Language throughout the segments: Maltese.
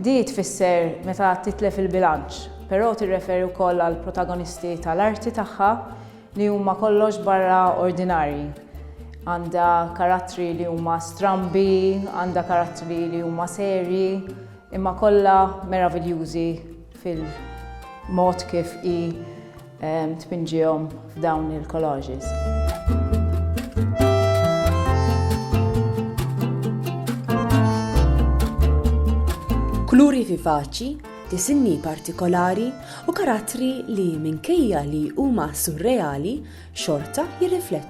Di tfisser meta titlef il-bilanċ, però tirreferi wkoll għall-protagonisti tal-arti tagħha li huma kollox barra ordinarji. Għandha karattri li huma strambi, għandha karattri li huma serji, imma kollha meraviljużi fil-mod kif hi tpinġihom f'dawn il-collages. kuluri vivaċi, disinni partikolari u karattri li minkejja li huma surreali xorta jirriflettu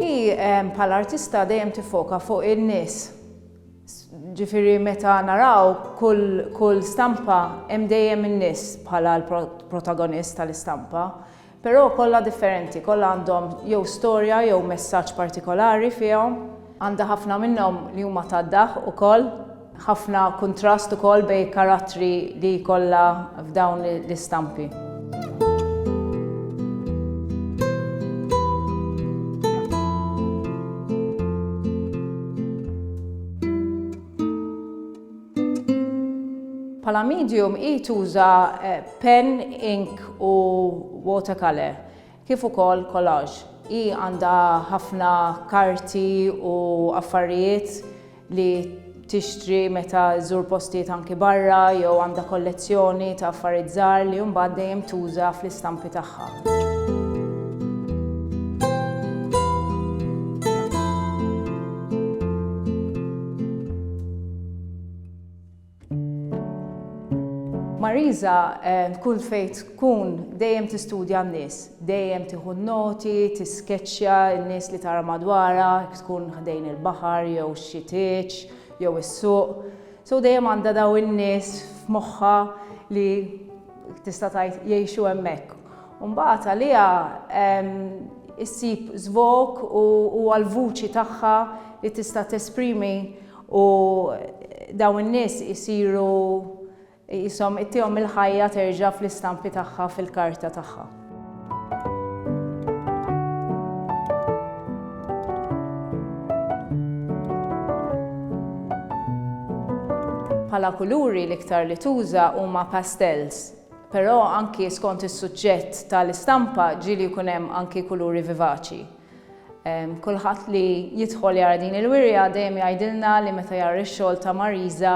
Hi ehm, bħala artista dejjem tifoka fuq in-nies. Ġifieri meta naraw kull, kull stampa hemm dejjem in-nies bħala l-protagonist tal-istampa. Però kollha differenti, kollha għandhom jew storja jew messaġġ partikolari fihom. Għandha ħafna minnhom li huma tad-daħq ukoll, ħafna kuntrast ukoll bejn il-karattri li jkollha f'dawn l-istampi. Bħala medium hi tuża penn, ink u watercolour. kif ukoll collage. Hi għandha ħafna karti u affarijiet li tixtri meta żżur postijiet anki barra jew għandha kollezzjoni ta' affarijiet żgħar li mbagħad dejjem tuża fl-istampi tagħha. Marisa kull fejn tkun dejjem tistudja n-nies, dejjem tieħu n-noti, tiskeċċja n-nies li tara madwarha, jekk tkun ħdejn il-baħar jew xi tieġ jew is-suq. So dejjem għandha dawn in-nies f'moħħha li tista' tgħid jgħixu hemmhekk. U mbagħad għaliha issib żvog u huwa l-vuċi tagħha li tista' tesprimi U dawn in-nies isiru qishom ittihom il-ħajja terġa' fl-istampi tagħha fil-karta tagħha. Bħala kuluri l-iktar li tuża huma pastels, però anki skont is-suġġett tal-istampa ġieli jkun hemm anki kuluri vivaċi. Kulħadd li jidħol jara din il-wirja dejjem jgħidilna li meta jara x-xogħol ta' Marisa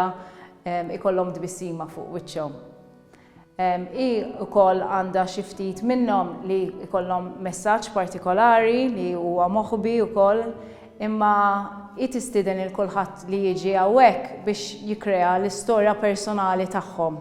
ikollhom tbissima fuq wiċċhom. Hi wkoll għandha xi ftit minnhom li jkollhom messaġġ partikolari li huwa moħbi wkoll imma hi tistieden lil kulħadd li jiġi hawnhekk biex jikkrea l-istorja personali tagħhom.